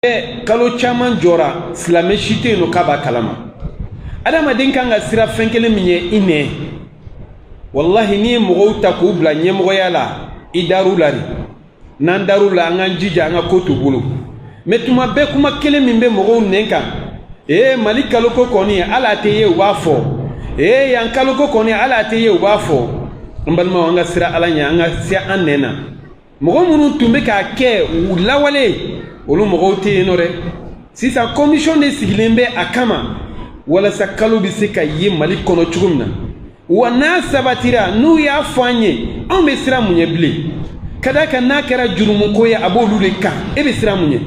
bɛɛ kalo caman jɔra silamɛ si tɛ yen nɔ k'a b'a kalama adamaden kan ka siran fɛn kelen min ye i nɛn walahi n'i ye mɔgɔw ta k'u bila ɲɛmɔgɔya la i dar'u la de n'an dar'u la an k'an jija an ka ko t'u bolo mɛ tuma bɛɛ kuma kelen min bɛ mɔgɔw nɛn kan ee mali kaloko kɔni hali a tɛ ye u b'a fɔ ee yan kaloko kɔni hali a tɛ ye u b'a fɔ n balimaw an ka siran ala ɲɛ an ka se an nɛn na mɔgɔ minnu tun bɛ k'a kɛ u lawale olu mɔgɔw tɛ yen nɔ dɛ sisan kɔmisɔn de sigilen bɛ a kama walasa kalo bɛ se ka ye mali kɔnɔ cogo min na wa n'a sabatira n'u y'a fɔ an ye anw bɛ siran mun ɲɛ bilen ka d'a kan n'a kɛra jurumuko ye a b'olu de kan e bɛ siran mun ɲɛ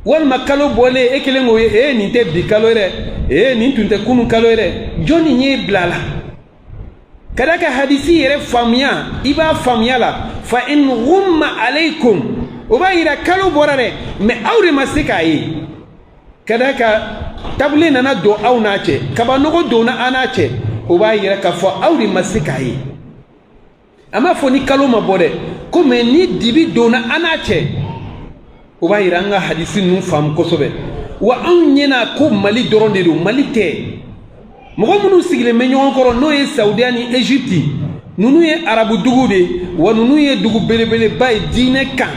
walima kalo bɔlen e kelen k'o ye ee nin tɛ bi kalo ye dɛ ee nin tun tɛ kunun kalo ye dɛ jɔnni y'e bila a la ka d'a kan hadisi yɛrɛ faamuya i b'a faamuya la fa in ghumma alaykum o b'a yira kalo bɔra dɛ mais aw de ma se k'a ye ka d'a kan tabule nana don aw n'a cɛ kabanɔgɔ donna an n'a cɛ o b'a yira k'a fɔ aw de ma se k'a ye a m'a fɔ ni kalo ma bɔ dɛ ko mɛ ni dibi donna an n'a cɛ o b'a yira an ka hadisi ninnu faamu kosɛbɛ wa anw ɲɛna ko mali dɔrɔn de don mali tɛ mɔgɔ minnu sigilen bɛ ɲɔgɔn kɔrɔ n'o ye saudiya ni egypte ninnu ye arabu dugu de ye wa ninnu ye dugu belebeleba ye diinɛ kan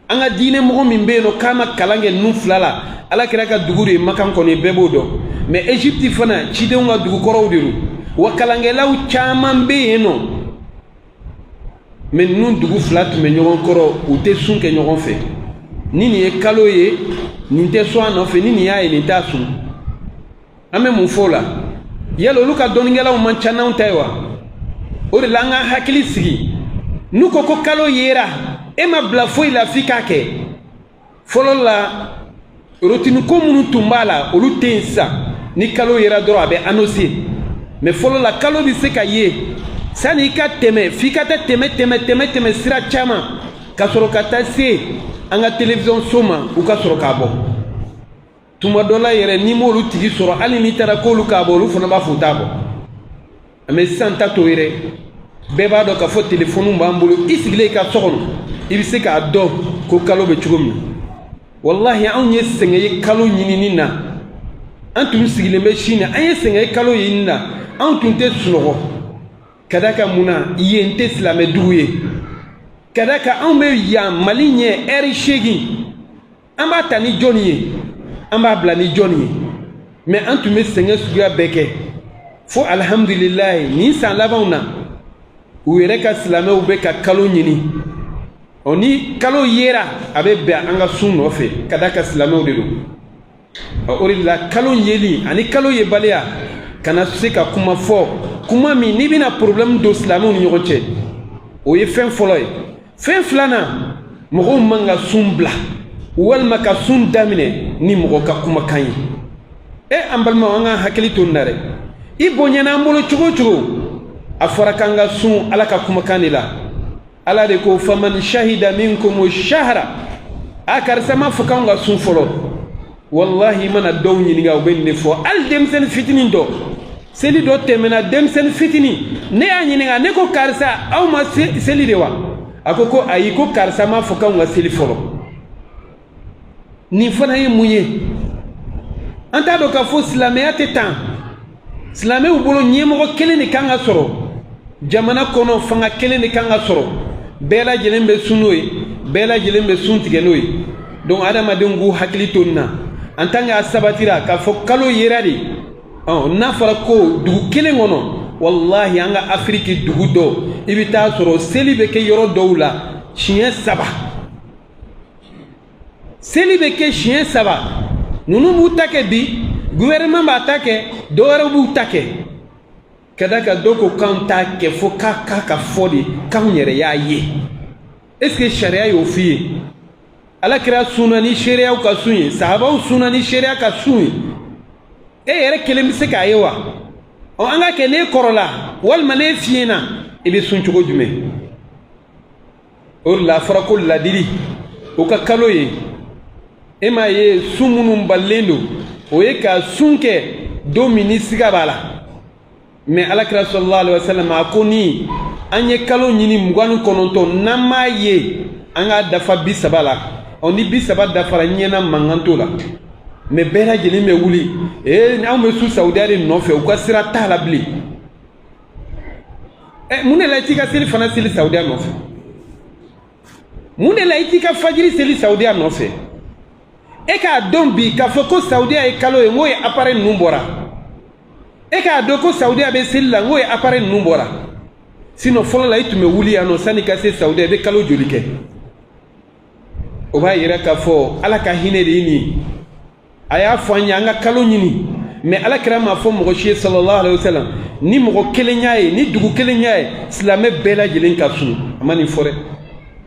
an ka diinɛ mɔgɔ min bɛ yen nɔ k'a ma kalan kɛ ninnu fila la ala kira ka dugu de ye makan kɔni bɛɛ b'o dɔn mɛ egypte fana cidenw ka dugu kɔrɔw de don wa kalankɛlaw caman bɛ yen nɔ mɛ ninnu dugu fila tun bɛ ɲɔgɔn kɔrɔ u tɛ sun kɛ ɲɔgɔn fɛ ni nin ye kalo ye nin tɛ sɔn a nɔfɛ ni nin y'a ye nin t'a sun an bɛ mun fɔ o la yala olu ka dɔnnikɛlaw man ca n'anw ta ye wa o de la an k'an hakili sigi n'u ko ko kalo yera e ma bila foyi la f'i k'a kɛ fɔlɔ la rotini ko minnu tun b'a la olu tɛ yen sisan ni kalo yera dɔrɔn a bɛ anose mɛ fɔlɔ la kalo bɛ se ka ye sani i ka tɛmɛ f'i ka taa tɛmɛ tɛmɛ tɛmɛ tɛmɛ sira caman ka sɔrɔ ka taa se an ka telewisɔn so ma u ka sɔrɔ k'a bɔ tuma dɔ la yɛrɛ n'i m'olu tigi sɔrɔ hali n'i taara k'olu k'a bɔ olu fana b'a fɔ u t'a bɔ mɛ sisan ta t'o ye dɛ bɛɛ b'a dɔn k'a fɔ telefɔniw b'an bolo i sigilen i ka so kɔnɔ i bɛ se k'a dɔn ko kalo bɛ cogo min walahi anw ye sɛgɛn ye kalo ɲinini na an tun sigilen bɛ chine na an ye sɛgɛn ye kalo ɲinini na anw tun tɛ sunɔgɔ ka d'a kan mun na yen tɛ silamɛdugu ye ka d'a kan anw bɛ yan mali ɲɛ ɛri seegin an b'a ta ni jɔnni ye an b'a bila ni jɔnni ye mɛ an tun bɛ sɛgɛn suguya bɛɛ kɛ fo alihamudulilayi nin san labanw na u yɛrɛ ka silamɛw bɛ ka kalo ɲini ɔ ni kalo yera a bɛ bɛn an ka sun nɔfɛ ka d'a kan silamɛw de don ɔ o de la kalo yeli ani kalo yebaliya kana se ka kuma fɔ kuma min n'i bɛna porobilɛmu don silamɛw ni ɲɔgɔn cɛ o ye fɛn fɔlɔ ye fɛn filanan mɔgɔw man ka sun bila walima ka sun daminɛ ni mɔgɔ ka kumakan ye e an balimaw an ka hakili to nin na dɛ i bonyana an bolo cogo o cogo a fɔra k'an ka sun ala ka kumakan de la ala de ko faman shahida minkum shahara a karisa m'a fɔ k'anw ka sun fɔlɔ walahi i mana dɔw ɲininka u bɛ nin de fɔ hali denmisɛnnin fitinin dɔ seli dɔ tɛmɛna denmisɛnnin fitinin ne y'a ɲininka ne ko karisa aw ma seli de wa a ko ko ayi ko karisa m'a fɔ k'anw ka seli fɔlɔ nin fana ye mun ye an t'a dɔn k'a fɔ silamɛya tɛ tan silamɛw bolo ɲɛmɔgɔ kelen de kan ka sɔrɔ jamana kɔnɔ fanga kelen de kan ka sɔrɔ bɛɛ lajɛlen bɛ sun n'o ye bɛɛ lajɛlen bɛ sun tigɛ n'o ye donc adamadenw k'u hakili to nin na en tant que a sabatira k'a fɔ kalo yera de n'a fɔra ko dugu kelen kɔnɔ walahi an ka afiriki dugu dɔ i bɛ t'a sɔrɔ seli bɛ kɛ yɔrɔ dɔw la siɲɛ saba seli bɛ kɛ siɲɛ saba ninnu b'u ta kɛ bi gouvernement b'a ta kɛ dɔ wɛrɛw b'u ta kɛ ka d'a kan dɔ ko k'anw t'a kɛ fo k'a k'a k'a fɔ de k'anw yɛrɛ y'a ye est ce que sariya y'o f'i ye ala kira sunna ni seereyaw ka sun ye sahabaw sunna ni seereya ka sun ye e yɛrɛ kelen bɛ se k'a ye wa ɔ an k'a kɛ n'e kɔrɔla walima n'e fiɲɛna i bɛ sun cogo jumɛn o de la a fɔra ko ladili o ka kalo ye e m'a ye sun minnu balilen don o ye ka sun kɛ don min ni siga b'a la mɛ ala kira salalahu alayi wasalam a ko ni an ye kalo ɲini mugan ni kɔnɔntɔn n'an m'a ye an k'a dafa bi saba la ɔ ni bi saba dafara ɲɛna mankan t'o la mɛ bɛɛ lajɛlen bɛ wuli ee anw bɛ sun sawudiya de nɔfɛ u ka sira t'a la bilen ɛ mun de la i t'i ka selifana seli sawudiya nɔfɛ mun de la i t'i ka fajiri seli sawudiya nɔfɛ e k'a dɔn bi k'a fɔ ko sawudiya ye kalo ye n k'o ye apare ninnu bɔra e k'a dɔn ko sawudiya bɛ seli la n k'o ye apare ninnu bɔra sinɔ fɔlɔ la i tun bɛ wuli yan nɔ sanni ka se sawudiya i bɛ kalo joli kɛ o b'a yira k'a fɔ ala ka hinɛ de ye nin a y'a fɔ an ye an ka kalo ɲini mais ala kira m'a fɔ mɔgɔ si ye sallallahu alaihi wasallam ni mɔgɔ kelen y'a ye ni dugu kelen y'a ye silamɛ bɛɛ lajɛlen ka sun a ma nin fɔ dɛ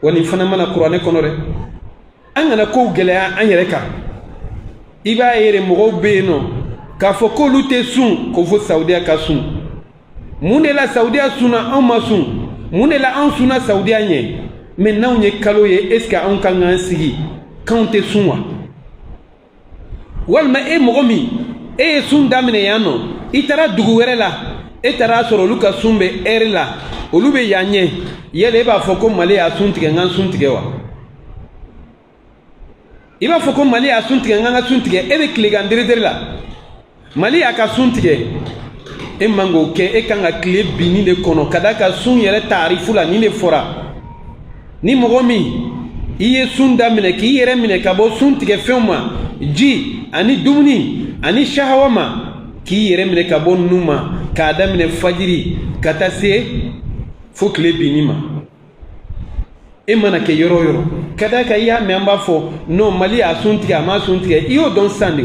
wa nin fana ma na kuranɛ kɔnɔ dɛ an kana kow gɛlɛya an yɛrɛ kan i b'a ye de mɔgɔw bɛ yen nɔ k'a fɔ k'olu tɛ sun ko fo saudiya ka sun mun de la saudiya sunna anw ma sun mun de la anw sunna saudiya ɲɛ mais n'anw ye kalo ye est ce que anw ka kan k'an sigi k'anw tɛ sun wa walima e mɔgɔ min e ye sun daminɛ yan nɔ i taara dugu wɛrɛ la e taar'a sɔrɔ olu ka sun bɛ heure la olu bɛ yan ɲɛ yala e b'a fɔ ko mali y'a sun tigɛ n ka sun tigɛ wa i b'a fɔ ko mali y'a sun tigɛ n ka sun tigɛ e bɛ tilegan deredere la mali y'a ka sun tigɛ e man k'o kɛ e kan ka tile binni de kɔnɔ ka d'a kan sun yɛrɛ taarifu la nin de fɔra ni mɔgɔ min i ye sun daminɛ k'i yɛrɛ minɛ ka bɔ sun tigɛ fɛnw ma ji ani dumuni ani shahawa ma k'i yɛrɛ minɛ ka bɔ ninnu ma k'a daminɛ fajiri ka taa se fo tile binni ma e mana kɛ yɔrɔ o yɔrɔ ka d'a kan i y'a mɛn an b'a fɔ non mali y'a sun tigɛ a m'a sun tigɛ i y'o dɔn sisan de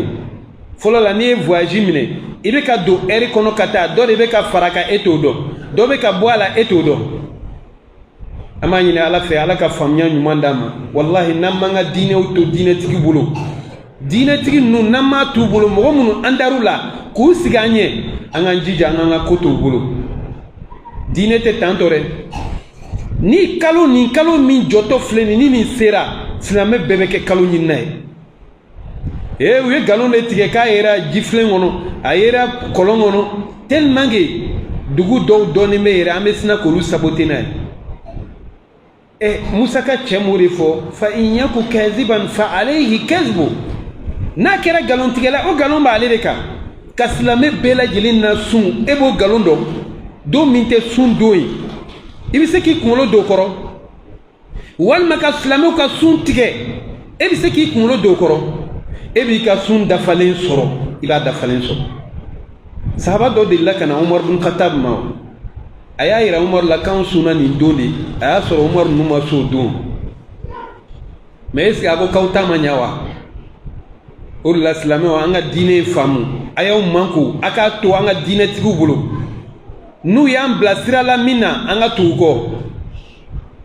fɔlɔ la n'i ye voyage minɛ i bɛ ka don heure kɔnɔ ka taa dɔ de bɛ ka far'a kan e t'o dɔn dɔ bɛ ka bɔ a la e t'o dɔn an b'a ɲini ala fɛ ala ka faamuya ɲuman d'an ma walahi n'an m'an ka diinɛw to diinɛtigi bolo diinɛtigi ninnu n'an m'a t'u bolo mɔgɔ minnu an dar'u la k'u sigi an ɲɛ an k'an jija an k'an ka ko t'u bolo diinɛ tɛ tantɔ dɛ ni kalo nin kalo min jɔtɔ filɛ nin ni nin sera silamɛ bɛɛ bɛ kɛ kalo ɲinina ye ee u ye nkalon de tigɛ k'a yera jifilen kɔnɔ a yera kɔlɔn kɔnɔ tellement que dugu dɔw dɔnnen bɛ yɛrɛ an bɛ sina k'olu saboter n'a ye ɛ musa ka cɛ m'o de fɔ fa in yaku kaziban fa alayhi kazibu n'a kɛra nkalontigɛla o nkalon b'ale de kan ka silamɛ bɛɛ lajɛlen na sun e b'o nkalon dɔn don min tɛ sun don ye i bɛ se k'i kunkolo don o kɔrɔ walima ka silamɛw ka sun tigɛ e bɛ se k'i kunkolo don o kɔrɔ e b'i ka sun dafalen sɔrɔ i b'a dafalen sɔrɔ sahaba dɔ delila ka na umar bin khattab ma a y'a yira umar la k'anw sunna nin don de a y'a sɔrɔ umar ninnu ma s'o don mais est ce que a ko k'aw ta ma ɲa wa o de la silamɛw an ka diinɛ faamu a y'aw mankun a k'a to an ka diinɛtigiw bolo n'u y'an bila sira la min na an ka tugu kɔ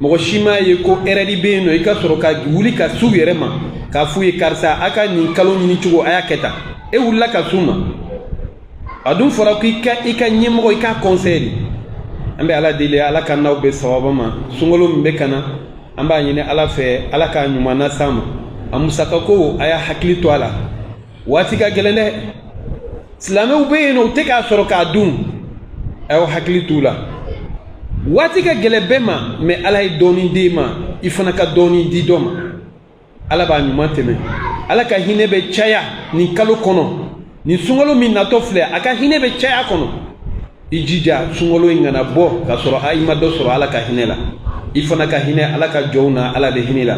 mɔgɔ si m'a ye ko erreur bɛ yen nɔ i ka sɔrɔ ka wuli ka s'u yɛrɛ ma k'a f'u ye karisa a ka nin kalo ɲini cogo a y'a kɛ tan e wulila ka s'u ma a dun fɔra ko i ka i ka ɲɛmɔgɔ i k'a kɔnsɛye de an bɛ ala deli ala ka n'aw bɛɛ sababa ma sunkalo min bɛ ka na an b'a ɲini ala fɛ ala k'a ɲuman na s'an ma a musakako a y'a hakili to a la waati ka gɛlɛn dɛ silamɛw bɛ yen nɔ u tɛ k'a sɔrɔ k'a dun a y'aw hakili t'u la waati ka gɛlɛn bɛɛ ma mais ala ye dɔɔnin d'e ma i fana ka dɔɔnin di dɔ ma ala b'a ɲuman tɛmɛ ala ka hinɛ bɛ caya nin kalo kɔnɔ nin sunkalo min natɔ filɛ a ka hinɛ bɛ caya kɔnɔ i jija sunkalo in kana bɔ k'a sɔrɔ i ma dɔ sɔrɔ ala ka hinɛ la i fana ka hinɛ ala ka jɔnw na ala bɛ hinɛ la